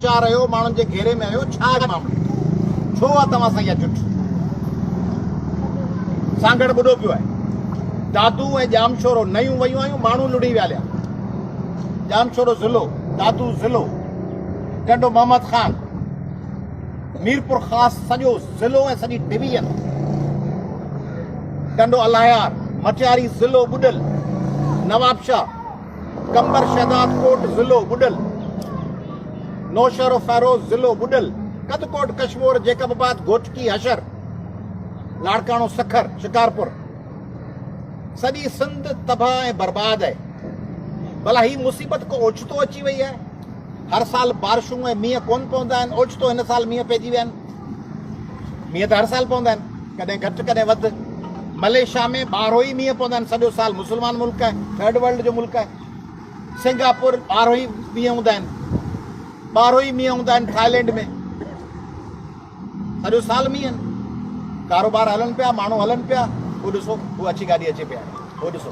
چا رهيو ماڻهن جي گهيري ۾ آهيو ڇا معاملو ڇو آ توهان سان اها جٺ سانگهڙ ٻڏو پيو آهي دادو ۽ ڄامشورو نيون ويون آهيون ماڻهو لڙي ويا ليا ڄامشورو ضلعو دادو ضلعو ٽنڊو محمد خان ميرپور خاص سڄو ضلعو ۽ سڄي ڊويزن ٽنڊو الاهيار مٽياري ضلعو ٻڏل نوابشاهه قمبر شهداد ڪوٽ ضلعو ٻڏل، نوشهروفيروز ضلعو ٻڏل، ڪڌڪوٽ ڪشمور جيڪب آباد گهوٽڪي حشر لاڙڪاڻو سکر شڪارپور سڄي سنڌ تباهه ۽ برباد آهي ڀلا هي مصيبت ڪو اوچتو اچي وئي آهي هر سال بارشون ۽ مينهن ڪون پوندا آهن اوچتو هن سال مينهن پئجي ويا آهن مينهن ته هر سال پوندا آهن، ڪڏهن گهٽ ڪڏهن وڌ. ملائيشيا ۾ ٻارهوئي مينهن پوندا آهن، سڄو سال مسلمان ملڪ آهي، ٿرڊ ورلڊ جو ملڪ آهي. سنگاپور ٻارهوئي مينهن هوندا آهن، ٻارهوئي مينهن هوندا آهن ٿائلينڊ ۾ سڄو سال مينهن ڪاروبار هلن پيا، ماڻهو هلن پيا، هو ڏسو هو اڇي گاڏي اچي پئي آهي، هو ڏسو.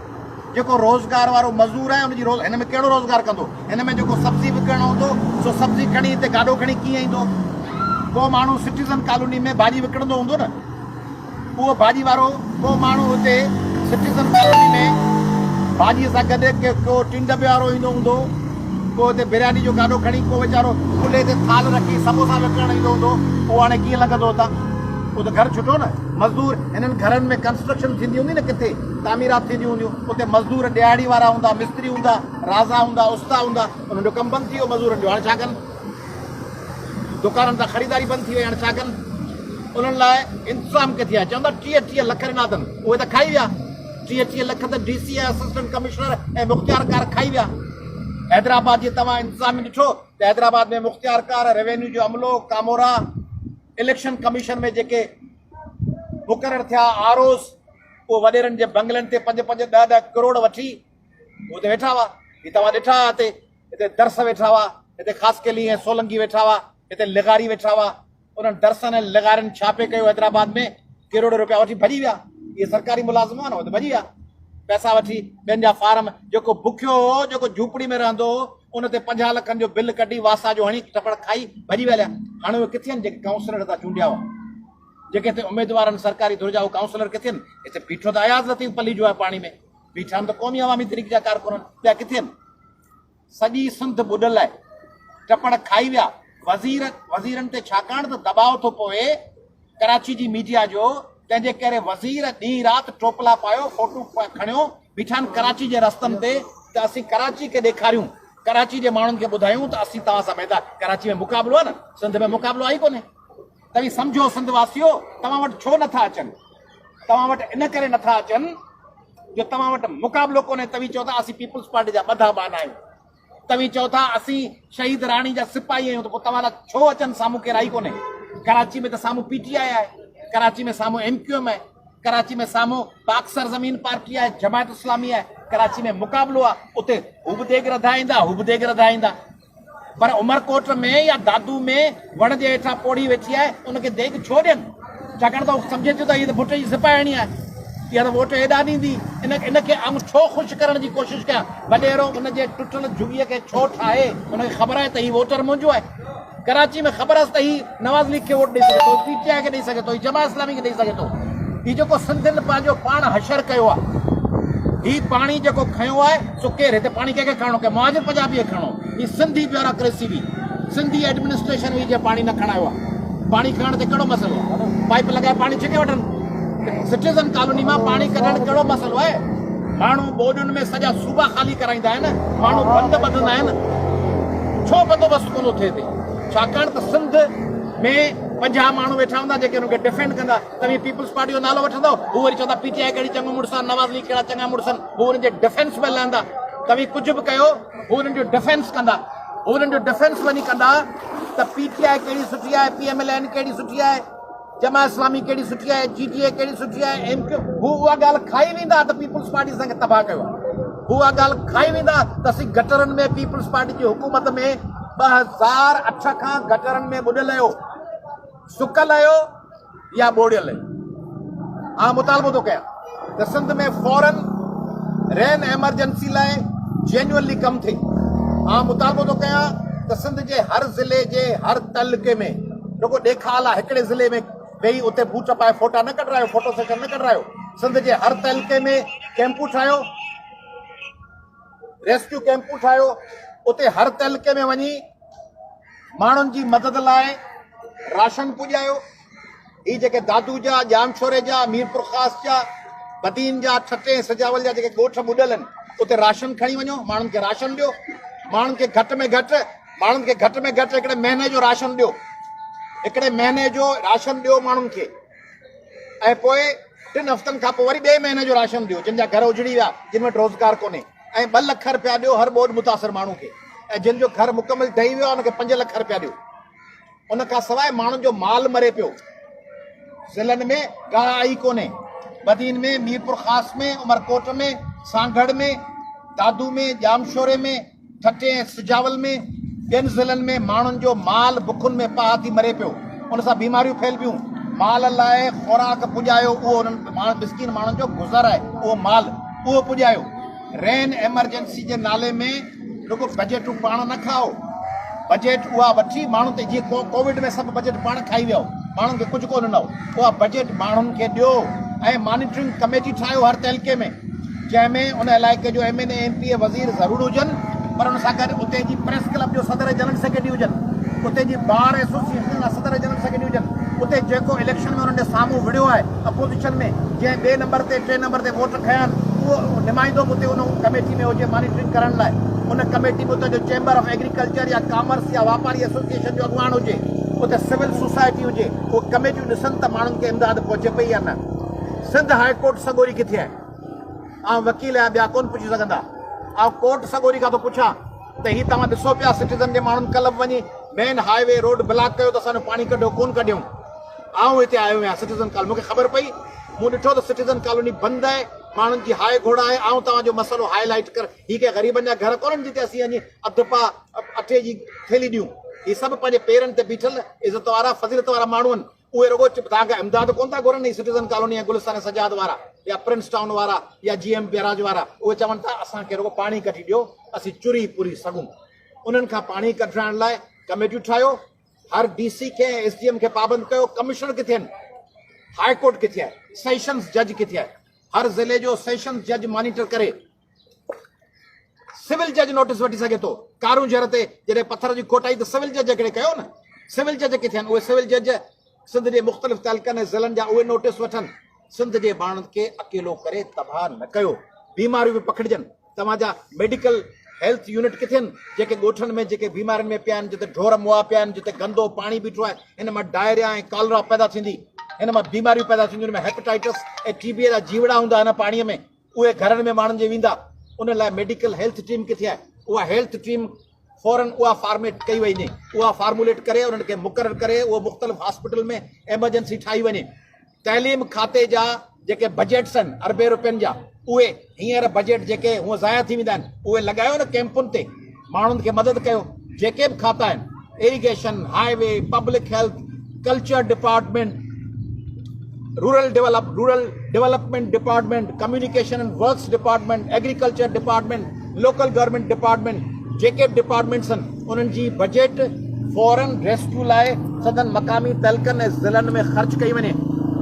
جيڪو روزگار وارو مزور آهي ان جي روز هن ۾ ڪهڙو روزگار ڪندو؟ هن ۾ جيڪو سبزي وڪڻڻ هوندو سو سبزي کڻي هتي گاڏو کڻي ڪيئن ايندو؟ ڪو ماڻهو سٽيزن ڪالوني ۾ ڀاڄي وڪڻندو هوندو نه اهو ڀاڄي وارو ڪو ماڻهو هتي سٽيزن ڪالوني ۾ ڀاڄي سان گڏ ڪو ٽين دٻي وارو ايندو هوندو ڪو هتي برياني جو گاڏو کڻي ڪو ويچارو کلي تي ٿال رکي سموسا وڪڻڻ ايندو هوندو اهو هاڻي ڪيئن لنگهندو هتان اهو ته گهر ڇٽو نه مزدور هنن گهرن ۾ ڪنسٽرڪشن ٿيندي هوندي نه ڪٿي تعميرات ٿينديون هونديون اتي مزدور ڏهاڙي وارا هوندا مستري هوندا رازا هوندا استا هوندا انهن جو ڪم بند ٿي ويو مزورن جو هاڻي ڇا ڪن دڪانن تان خريداري بند ٿي وئي هاڻي ڇا ڪن انهن لاء انتظام ڪٿي آهي چوندا ٽيهه ٽيهه لک ڏنا اٿن اهي ته کائي ويا ٽيهه ٽيهه لک ته ڊي سي اسسٽنٽ ڪمشنر ۽ مختيار ڪار کائي ويا حيدرآباد جي توهان انتظام ۾ ڏٺو ته حيدرآباد ۾ مختيار ڪار ريونيو جو عملو ڪامورا اليڪشن ڪميشن ۾ جيڪي مقرر ٿيا آروز اهي وڏيرن جي بنگلن تي پنج پنج ڏهه ڏهه ڪروڙ وٺي اتي ويٺا هئا هي توهان ڏٺا آهي هتي هتي درس ويٺا هئا هتي خاص ڪيلي ۽ سولنگي ويٺا هئا هتي لغاري ويٺا هئا انهن درسن ۽ لغارين ڇا پي ڪيو حيدرآباد ۾ ڪروڙ روپيا وٺي ڀڄي ويا اهي سرڪاري ملازم هئا نه هو ته ڀڄي ويا پيسا وٺي ٻين جا فارم جيڪو بکيو هو جيڪو جھوپڙي ۾ رهندو هو ان تي پنجاهه لکن جو بل ڪڍي واسا جو هڻي ٽپڙ کائي ڀڄي ويا هليا هاڻي اهي ڪٿي آهن جيڪي ڪائونسلر هتان چونڊيا هئا جيڪي اتي اميدوار آهن سرڪاري ڌر جا اهي ڪائونسلر ڪٿي آهن اتي بيٺو ته اياز لطيف پليجو آهي پاڻي ۾ بيٺا آهن ته قومي عوامي تحريڪ جا ڪارڪن آهن ٻيا ڪٿي آهن سڄي سنڌ ٻڏل آهي ٽپڙ کائي ويا وزير وزيرن تي ڇاڪاڻ ته دٻاء ٿو پوي ڪراچي جي ميڊيا جو تنهن جي ڪري وزير ڏينهن رات ٽوپلا پايو فوٽو کڻيو بيٺا آهن ڪراچي جي رستن تي ته اسين ڪراچي کي ڏيکاريون ڪراچي جي ماڻهن کي ٻڌايون ته اسين توهان سان ميدان ڪراچي ۾ مقابلو آهي نه سنڌ ۾ مقابلو آهي ڪونهي توهين سمجهو سنڌ واسيو توهان وٽ ڇو نه ٿا اچن توهان وٽ ان ڪري نه ٿا اچن جو توهان وٽ مقابلو ڪونهي توهين چئو ٿا اسين پيپلز پارٽي جا ٻڌا ٻانها آهيون توهين چئو ٿا اسين شهيد راڻي جا سپاهي آهيون ته پوء توهان لاء ڇو اچن سامهون ڪير آئي ڪونهي ڪراچي ۾ ته سامهون پي ٽي آء آهي ڪراچي ۾ سامهون ايم ڪيو ايم آهي ڪراچي ۾ سامهون پاڪ سرزمين پارٽي آهي جماعت اسلامي آهي ڪراچي ۾ مقابلو آهي اتي هو به ديڳ رڌائيندا هو به ديڳ رڌائيندا پر عمرڪوٽ ۾ يا دادو ۾ وڻ جي هيٺان پوڙهي ويٺي آهي، ان کي ديڳ ڇو ڏين؟ ڇاڪاڻ ته هو سمجهي ٿيو ته هيء ته ڀٽ جي سپاهياڻي آهي. اها ته ووٽ هيڏانهن ڏيندي. ان کي آئون ڇو خوش ڪرڻ جي ڪوشش ڪيان؟ وڏيرو ان جي ٽٽل جهڳيء کي ڇو ٺاهي؟ ان کي خبر آهي ته هي ووٽر منهنجو آهي. ڪراچيء ۾ خبر هئس ته هي. نواز ليگ کي ووٽ ڏئي سگهي ٿو، پي ٽي آء کي ڏئي سگهي ٿو، جماعت اسلامي کي ڏئي سگهي ٿو. هي جيڪو سنڌين پنهنجو پاڻ حشر ڪيو آهي، هي پاڻي جيڪو کنيو آهي سو ڪير؟ هتي پاڻي ڪنهن کي کڻڻو؟ ڪنهن مهاجر پنجابي کي کڻڻو؟ هي سنڌي بيوراڪريسي هئي، سنڌي ايڊمنسٽريشن هئي جنهن پاڻي نه کڻايو آهي. پاڻي کڻڻ تي ڪهڙو مسئلو آهي؟ پائيپ لڳائي پاڻي ڇڪي وٺن. سٽيزن ڪالوني مان پاڻي ڪڍڻ ڪهڙو مسئلو آهي؟ ماڻهو ٻوڏن ۾ سڄا صوبا خالي ڪرائيندا آهن، ماڻهو بند ٻڌندا آهن، ڇو بندوبست ڪونه ٿئي هتي؟ ڇاڪاڻ ته سنڌ ۾ پنجاهه ماڻهو ويٺا هوندا جيڪي ان کي ڊفينڊ ڪندا توهين پيپلز پارٽي جو نالو وٺندؤ هو وري چوندا پي ٽي آء ڪهڙي چڱو مڙس آهن نواز ليگ ڪهڙا چڱا مڙس آهن هو انهن جي ڊفينس ۾ لهندا توهين ڪجهه به ڪيو هو انهن جو ڊفينس ڪندا هو انهن جو ڊفينس وڃي ڪندا ته پي ٽي آء ڪهڙي سٺي آهي پي ايم ايل اين ڪهڙي سٺي آهي جماعت اسلامي ڪهڙي سٺي آهي جي ڊي اي ڪهڙي سٺي آهي ايم ڪيو هو اها ڳالهه کائي ويندا ته پيپلز پارٽي اسان کي تباهه ڪيو آهي هو اها ڳالهه کائي ويندا ته اسين گٽرن ۾ پيپلز پارٽي جي حڪومت ۾ ٻه هزار اٺ کان گٽرن ۾ ٻڏل آهيو سڪل آهيو يا ٻوڙيل آهيو آء مطالبو ٿو ڪيان ته سنڌ ۾ فورن رين ايمرجنسي لاء جينيونلي ڪم ٿئي آئون مطالبو ٿو ڪيان ته سنڌ جي هر ضلعي جي هر تعلقي ۾ رڳو ڏيکاء لاء هڪڙي ضلعي ۾ ويهي اتي بوٽ پائي فوٽا نه ڪڍرايو فوٽو سيشن نه ڪڍرايو سنڌ جي هر تعلقي ۾ ڪيمپون ٺاهيو ريسڪيو ڪيمپون ٺاهيو اتي هر تعلقي ۾ وڃي ماڻهن جي مدد لاء راشن پڄايو هي جيڪي دادو جا، ڄامشوري جا، ميرپورخاص جا، بدين جا، ٺٽي ۽ سجاول جا جيڪي ڳوٺ ٻڏل آهن، اتي راشن کڻي وڃو، ماڻهن کي راشن ڏيو، ماڻهن کي گهٽ ۾ گهٽ، ماڻهن کي گهٽ ۾ گهٽ هڪڙي مهيني جو راشن ڏيو، هڪڙي مهيني جو راشن ڏيو ماڻهن کي ۽ پوء ٽن هفتن کان پوء وري ٻئي مهيني جو راشن ڏيو، جن جا گهر اجڙي ويا، جن وٽ روزگار ڪونهي ۽ ٻه لک رپيا ڏيو هر ٻوڏ متاثر ماڻهو کي ۽ جن جو گهر مڪمل ڊهي ويو آهي ان کي پنج لک رپيا ڏيو. ان کان سواء ماڻهن جو مال مري پيو، ضلعن ۾ ڪا آئي ڪونهي، بدين ۾، ميرپورخاص ۾، عمرڪوٽ ۾، سانگهڙ ۾، دادو ۾، ڄامشوري ۾، ٺٽي ۽ سجاول ۾ ٻين ضلعن ۾ ماڻهن جو مال بکن ۾ پاهه ٿي مري پيو، ان سان بيماريون ڦهلبيون، مال لاء خوراڪ پڄايو اهو انهن مسڪين ماڻهن جو گذر آهي اهو مال اهو پڄايو. رين ايمرجنسي جي نالي ۾ رڳو بجيٽون پاڻ نه کائو بجيٽ اها وٺي ماڻهن تي جيئن ڪووڊ ۾ سڀ بجيٽ پاڻ کائي ويو ماڻهن کي ڪجهه ڪو ڏنو اها بجيٽ ماڻهن کي ڏيو ۽ مانيٽرنگ ڪميٽي ٺاهيو هر تعلقي ۾ جنهن ۾ ان علائقي جو M N A M P A وزير ضرور هجن پر ان سان گڏ اتي جي پريس ڪلب جو صدر جنرل سيڪريٽري هجن اتي جي بار ايسوسيئيشن جا صدر جنرل سيڪريٽري هجن اتي جيڪو اليڪشن ۾ انهن ڏي سامهون وڙهيو آهي اپوزيشن ۾ جنهن ٻئي نمبر تي ٽئين نمبر تي ووٽ کنيا آهن اهو نمائندو به اتي ان ڪميٽي ۾ هجي مانيٽرنگ ڪرڻ لاء ان ڪميٽي ۾ اتان جو چيمبر آف ايگريڪلچر يا ڪامرس يا واپاري ايسوسيئيشن جو اڳواڻ هجي اتي سول سوسائٽي هجي اهي ڪميٽيون ڏسن ته ماڻهن کي امداد پهچي پئي يا نه سنڌ هاء ڪورٽ سڳوري ڪٿي آهي آئون وڪيل آهيان ٻيا ڪون پڇي سگهندا آئون ڪورٽ سڳوري کان ٿو پڇان ته هي توهان ڏسو پيا سٽيزن جي ماڻهن ڪلب وڃي main highway road block ڪيو ته اسان جو پاڻي ڪڍيو ڪون ڪڍيون آئون هتي آيو آهيان سٽيزن ڪالوني مون کي خبر پئي مون ڏٺو ته سٽيزن ڪالوني بند آهي ماڻهن جي هاء گهوڙ آهي آئون توهان جو مسئلو هاء لائيٽ ڪر هي ڪي غريبن جا گهر ڪونهن جتي اسين اڃي اڌ پاء اٽي جي ٿيلي ڏيون هي سڀ پنهنجي پيرن تي بيٺل عزت وارا فضيلت وارا ماڻهو آهن اهي رڳو توهان کي امداد ڪونه ٿا گهرن هي سٽيزن ڪالوني ۽ گلستان سجاد وارا يا پرنس ٽائون وارا يا جي ايم بيراج وارا اهي چون ٿا اسان کي رڳو پاڻي ڪڍي ڏيو اسين چري پوري سگهون انهن کان پاڻي ڪڍرائڻ لاء ڪميٽيون ٺاهيو هر ڊي سي کي ۽ ايس ڊي ايم کي پابند ڪيو، ڪمشنر ڪٿي آهن، هاء ڪورٽ ڪٿي آهي، سيشنز جج ڪٿي آهي، هر ضلعي جو سيشنز جج مانيٽر ڪري، سول جج نوٽس وٺي سگهي ٿو، ڪارون جهر تي جڏهن پٿر جي کوٽ آئي ته سول جج هڪڙي ڪيو نه، سول جج ڪٿي آهن، اهي سول جج سنڌ جي مختلف تعلقن ۽ ضلعن جا اهي نوٽس وٺن، سنڌ جي ماڻهن کي اڪيلو ڪري تباهه نه ڪيو، بيماريون به پکڙجن. توهان جا ميڊيڪل هيلٿ يونٽ ڪٿي آهن جيڪي ڳوٺن ۾ جيڪي بيمارين ۾ پيا آهن جتي ڍور مئا پيا آهن جتي گندو پاڻي بيٺو آهي ان مان ڊائريا ۽ ڪالرا پيدا ٿيندي ان مان بيماريون پيدا ٿينديون ان ۾ هيپيٽائيٽس ۽ ٽي بي جا جيوڙا هوندا ان پاڻي ۾ اهي گهرن ۾ ماڻهن جي ويندا ان لاء ميڊيڪل هيلٿ ٽيم ڪٿي آهي اها هيلٿ ٽيم فورن اها فارميٽ ڪئي وڃي اها فارموليٽ ڪري انهن کي مقرر ڪري اهو مختلف هاسپيٽل ۾ ايمرجنسي ٺاهي وڃي تعليم کاتي جا جيڪي بجيٽس آهن اربين روپين جا اهي هينئر بجيٽ جيڪي هونء ضايع ٿي ويندا آهن اهي لڳايو نه ڪيمپن تي ماڻهن کي مدد ڪيو جيڪي به کاتا آهن irrigation highway public health culture department rural develop rural development department communication and works department agriculture department local government department جيڪي ڊپارٽمنٽس انهن جي بجيٽ فورن ريسڪيو لاء سندن مقامي تعلقن ۽ ضلعن ۾ خرچ ڪئي وڃي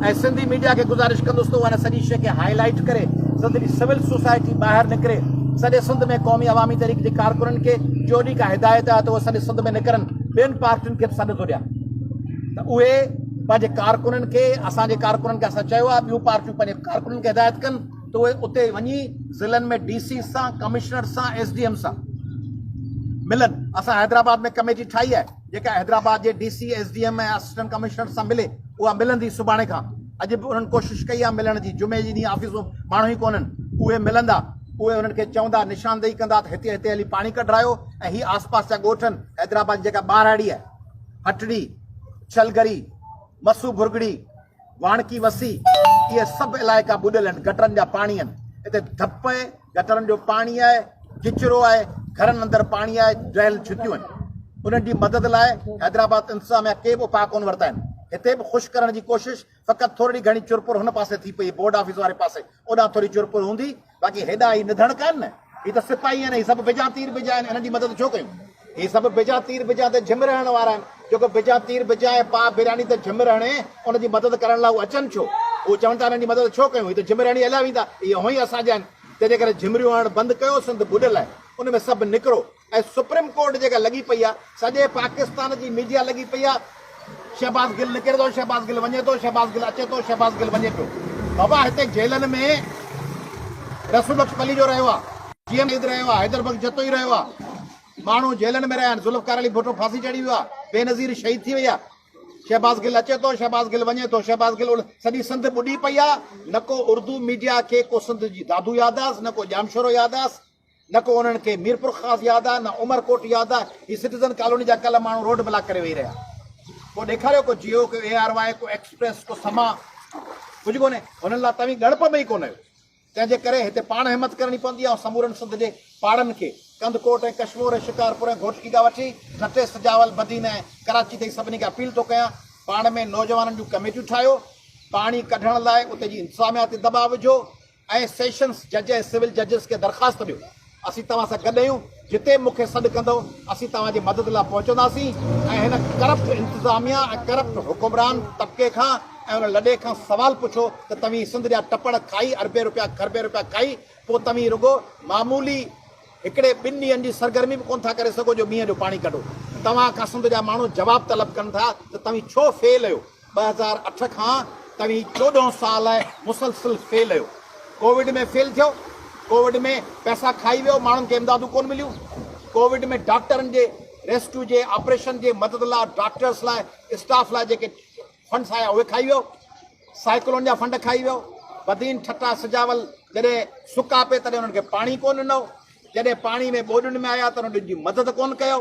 ۽ سنڌي ميڊيا کي گذارش ڪندس ته اها ان سڄي شيء کي هائي لائيٽ ڪري سنڌ جي سول سوسائٽي ٻاهر نڪري سڄي سنڌ ۾ قومي عوامي تحريڪ جي ڪارڪنن کي جوڏي ڪا هدايت آهي ته اهي سڄي سنڌ ۾ نڪرن ٻين پارٽين کي به سڏ ٿو ڏيان ته اهي پنهنجي ڪارڪنن کي اسان جي ڪارڪنن کي اسان چيو آهي ٻيون پارٽيون پنهنجي ڪارڪنن کي هدايت ڪن. ته اهي اتي وڃي ضلعن ۾ ڊي سيز سان، ڪمشنرز سان، ايس ڊي ايمز سان ملن. اسان حيدرآباد ۾ ڪميٽي ٺاهي آهي، جيڪا حيدرآباد جي D C, S D M ۽ assistant commissioners سان ملي. اها ملندي سڀاڻي کان. اڄ به انهن ڪوشش ڪئي آهي ملڻ جي. جمعي جي ڏينهن آفيسون ماڻهو ئي ڪونهن. اهي ملندا. اهي انهن کي چوندا، نشاندهي ڪندا ته هتي هتي هلي پاڻي ڪڍرايو ۽ هي آسپاس جا ڳوٺ آهن. حيدرآباد جي جيڪا ٻاراڙي آهي، هٽڙي، ڇلگري، مسو ڀرڳڙي، واڻڪي وسي، اهي سڀ علائقا ٻڏل آهن، گٽرن جا پاڻي آهن، اتي ڌپ آهي، گٽرن جو پاڻي آهي، ڪچرو آهي، گهرن اندر پاڻي آهي، ڊريل ڇتيون آهن، انهن جي مدد لاء حيدرآباد انتظاميا ڪي به اپاء ڪونه ورتا آهن، هتي به خشڪ ڪرڻ جي ڪوشش فقط ٿورڙي گهڻي چرپر هن پاسي ٿي پئي، بورڊ آفيس واري پاسي، اوڏانهن ٿوري چرپر هوندي، باقي هيڏا هي نڌڻ ڪانهن نه، هي ته سپاهي آهن ۽ هي سڀ بجا تير بجا آهن، انهن جي مدد ڇو ڪيون؟ هي سڀ بجا تير بجا ته جهمر هڻڻ وارا آهن، جيڪو بجا تير بجائي پاء براني ته جهمر هڻي، ان جي مدد ڪرڻ لاء هو اچن ڇو؟ هو چون ٿا انهن جي مدد ڇو ڪيون؟ هي ته جهمر هڻي هليا ويندا، اهي هونئن ئي اسان جا آهن، تنهنجي ڪري جهمريون هڻڻ بند ڪيو، سنڌ ٻڏل آهي، ان ۾ سڀ نڪرو. ۽ سپريم ڪورٽ جيڪا لڳي پئي آ سڄي پاڪستان جي ميڊيا لڳي پئي آ شهباز گل نڪري ٿو شهباز گل وڃي ٿو شهباز گل اچي ٿو شهباز گل وڃي پيو بابا هتي جيلن ۾ رسول بخش پليجو رهيو آ جي ايم عيد رهيو آ حيدر بخش جتوئي رهيو آ ماڻهو جيلن ۾ رهيا آهن ذوالفقار علي ڀٽو ڦاسي چڙهي ويو آ بي نظير شهيد ٿي وئي آ شهباز گل اچي ٿو شهباز گل وڃي ٿو شهباز گل سڄي سنڌ ٻڏي پئي آ نه ڪو اردو ميڊيا کي ڪو سنڌ جي دادو ياد آس نه ڪو ڄامشورو ياد آس نه ڪو انهن کي ميرپورخاص ياد آ نه عمرڪوٽ ياد آ، هي سٽيزن ڪالوني جا ڪل ماڻهو روڊ بلاڪ ڪري ويهي رهيا. ڪو ڏيکاريو ڪو جيو ڪو اي آر واء ڪو ايڪسپريس ڪو سما ڪجهه ڪونهي هنن لا توهين ڳڻپ ۾ ئي ڪونه آهيو تنهن جي ڪري هتي پاڻ همت ڪرڻي پوندي آئون سمورن سنڌ جي پاڙن کي ڪنڌڪوٽ ۽ ڪشمور ۽ شڪارپور ۽ گهوٽڪي کان وٺي ٺٽي سجاول بدين ۽ ڪراچي تائين سڀني کي اپيل ٿو ڪيان پاڻ ۾ نوجوانن جون ڪميٽيون ٺاهيو پاڻي ڪڍڻ لاء اتي جي انتظاميا تي دٻاء وجهو اي سيشنز جج ۽ سول ججز کي درخواست ڏيو، اسين توهان سان گڏ اهيون، جتي به مون کي سڏ ڪندؤ، اسين توهان جي مدد لاء پهچنداسين ۽ هن ڪرپٽ انتظاميه ۽ ڪرپٽ حڪمران طبقي کان ۽ ان لڏي کان سوال پڇو ته توهين سنڌ جا ٽپڙ کائي اربين روپيا کربين روپيا کائي پوء توهين رڳو معمولي هڪڙي ٻن ڏينهن جي سرگرمي به ڪونه ٿا ڪري سگهو جو مينهن جو پاڻي ڪڍو توهان کان سنڌ جا ماڻهو جواب طلب ڪن ٿا ته توهين ڇو فيل اهيو. ٻه هزار اٺ کان توهين چوڏهن سال مسلسل فيل اهيو ڪووڊ ۾ فيل ٿيو ڪووڊ ۾ پئسا کائي ويو ماڻهن کي امدادون ڪون مليون ڪووڊ ۾ ڊاڪٽرن جي ريسڪيو جي آپريشن جي مدد لاء ڊاڪٽرس لاء اسٽاف لاء جيڪي فنڊس آيا اهي کائي ويو سائيڪلون جا فنڊ کائي ويو بدين ٺٽا سجاول جڏهن سڪا پي تڏهن انهن کي پاڻي ڪون ڏنو جڏهن پاڻي ۾ ٻوڏن ۾ آيا ته انهن جي مدد ڪون ڪيو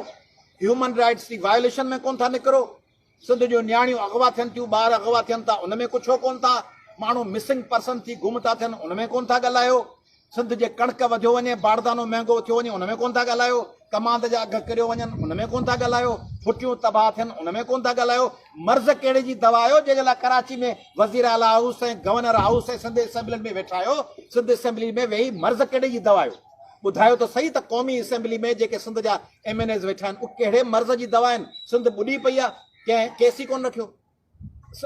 هيومن رائٽس جي وائليشن ۾ ڪون ٿا نڪرو سنڌ جون نياڻيون اغوا ٿين ٿيون، ٻار اغوا ٿين ٿا ان ۾ ڪو ڇو ڪون ٿا، ماڻهو مسنگ پرسن ٿي گم ٿا ٿين ان ۾ ڪون ٿا ڳالهايو، سنڌ جي ڪڻڪ وڌيو وڃي، باردانو مهنگو ٿيو وڃي ان ۾ ڪون ٿا ڳالهايو، ڪماند جا اگهه ڪريو وڃن ان ۾ ڪون ٿا ڳالهايو، ڦٽيون تباهه ٿين ان ۾ ڪون ٿا ڳالهايو، مرض ڪهڙي جي دوا آهيو جنهن جي لاء ڪراچي ۾ وزير اعليٰ هائوس ۽ گورنر هائوس ۽ سنڌ اسيمبلين ۾ ويٺا آهيو، سنڌ اسيمبلين ۾ ويهي مرض ڪهڙي جي دوا آهيو، ٻڌايو ته سهي ته قومي اسيمبلي ۾ جيڪي سنڌ جا ايم اين ايز ويٺا آهن اهي ڪهڙي مرض جي دوا آهن سنڌ ٻڏي پئي آهي ڪنهن ڪيس ئي ڪونه رکيو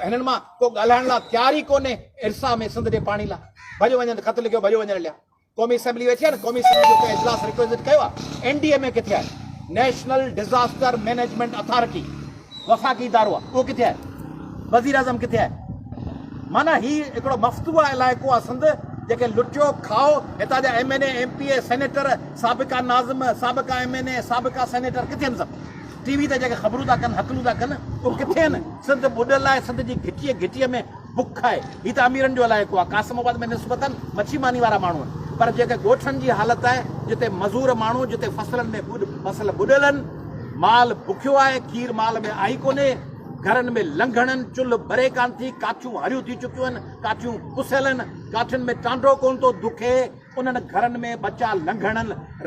هنن مان ڪو ڳالهائڻ لا تيار ئي ڪونهي ارسا ۾ سنڌ جي پاڻي لا ڀڄ وڃن خط لکيو ڀڄ وڃڻ ليا قومي اسيمبلي ويٺي آهي نه قومي اسيمبلي جو ڪنهن اجلاس ريڪويزٽ ڪيو آهي اين ڊي ايم اي ڪٿي آهي نيشنل ڊيزاسٽر مينيجمنٽ اٿارٽي وفاقي ادارو آهي اهو ڪٿي آهي وزيراعظم ڪٿي آهي معنيٰ هي هڪڙو مفتوح علائقو آهي سنڌ جيڪي لٽيو کائو هتان جا M N A M P A senator سابقا ناظم سابقا ايم اين اي سابقا سينيٽر ڪٿي آهن سڀ ٽي وي تي جيڪي خبرون ٿا ڪن هڪلون ٿا ڪن اهو ڪٿي آهن سنڌ ٻڏل آهي سنڌ جي گهٽي گهٽي ۾ بک آهي. هي ته اميرن جو علائقو آهي. قاسم آباد ۾ نسبتاً مڇي ماني وارا ماڻهو آهن. پر جيڪا ڳوٺن جي حالت آهي، جتي مزور ماڻهو، جتي فصلن ۾ ٻڏ، فصل ٻڏيل آهن، مال بکيو آهي، کير مال ۾ آهي ڪونهي، گهرن ۾ لنگهڻ آهن، چلهه ٻري ڪانه ٿي، ڪاٺيون هريون ٿي چڪيون آهن، ڪاٺيون پسيل آهن، ڪاٺين ۾ ٽانڊو ڪونه ٿو دکي، انهن گهرن ۾ ٻچا لنگهڻ،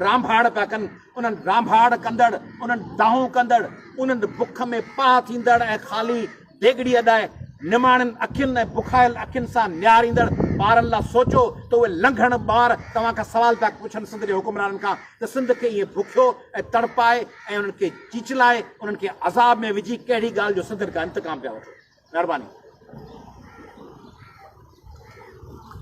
رانڀاڙ پيا ڪن، انهن رانڀاڙ ڪندڙ، انهن دانهون ڪندڙ، انهن بک ۾ پاهه ٿيندڙ ۽ خالي، ڊيگهڙي اڏائي نماڻين اکين ۽ بکايل اکين سان نهاريندڙ ٻارن لا سوچو ته اهي لنگهڻ ٻار توهان کان سوال پيا پڇن سنڌ جي حڪمرانن کان ته سنڌ کي ائين بکيو ۽ تڙپائي ۽ انهن کي چيچلائي انهن کي عذاب ۾ وجهي ڪهڙي ڳالهه جو سنڌين کان انتقام پيا وٺو. مهرباني.